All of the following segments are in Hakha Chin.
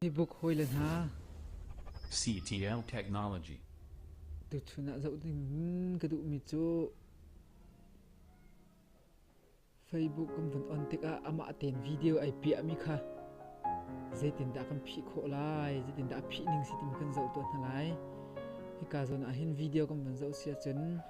Hibuk hawile hna, CTL technology. tuchun ah zoh ding ka duhmi cu Facebook kan van on tikah amah ten video ai piahmi kha zeitindah kan phih khawh lai, zeitindah a phih ning si ti kan zoh tuah hna lai. Hika zawn ah hin video kan van zoh si ahcun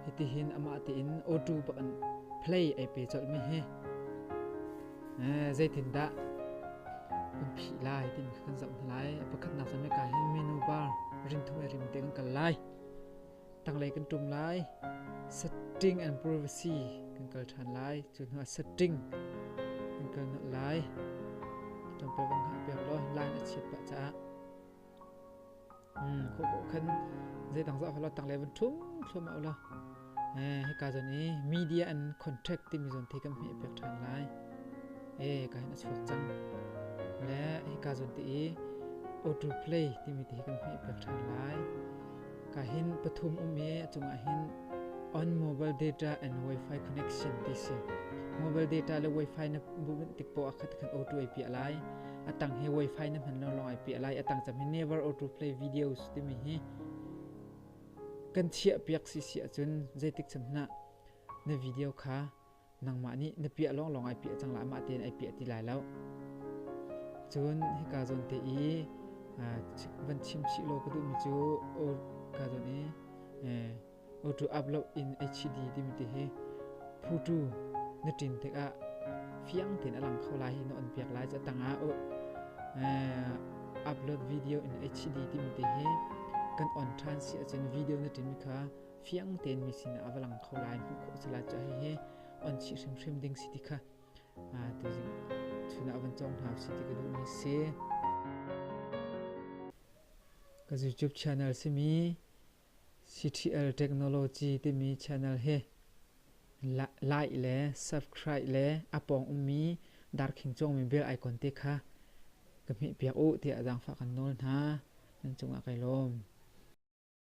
Hitihin amah tein awṭu bakin play ai pe colhmi hi zeitindah um phih lai timi kha kan zoh hna lai. Pakhatnak zam hi ka hin menu bar rinthum ai rim te kan kal lai. Tanglei kan ṭum lai. Setting and privacy kan kal ṭhan lai. Cu hnuah setting kan kal nolh lai. Ṭampe bang hah piak law line a chiat pah caah Hmm, khu khu khan zeidang za hola tang le van thum thlum a ola. Eh, hika zon i media and contract timi zon thi kan hme pek than lai. Eh, ka hin a chuak cang. Le hika zon ti i auto play timi ti kan hme pek than lai. Ka hin pathum um i a cungah hin on mobile data and wifi connection ti si. Mobile data le wifi na bubunh tik po akhat khat auto ai pia lai. Atang he wifi na hman lo long ai pia lai. Atang chami never auto play videos timi hi kan chiah piak si si ahcun zeitik cham na na video kha nangmah nih na piah lawnglawng ai piah cang la mah tein ai piah ti lai lo cun hika zawn te i van chim chih law ka duhmi cu o ka zawn i otu ap lo in ai chi di timi ti hi phutu na tin tikah fiang tein a lang kho lai hi na on piak lai cu tangah o upload video in ai chi di timi ti hi kan on than si ahcun video na tin mi kha fiang tein mi sin ah a va lang kho lai hmuh khawh si la cu hihi on chih hrimhrim ding si ti kha tu zing chun ah van cong hna si ti ka duh mi si ka YouTube channel simi CTL Technology timi channel he like le subscribe le apong ummi darkhing chong mi bel icon te kha ka hmeh piak u ti adang fa kan nol hna nan cungah kai lawm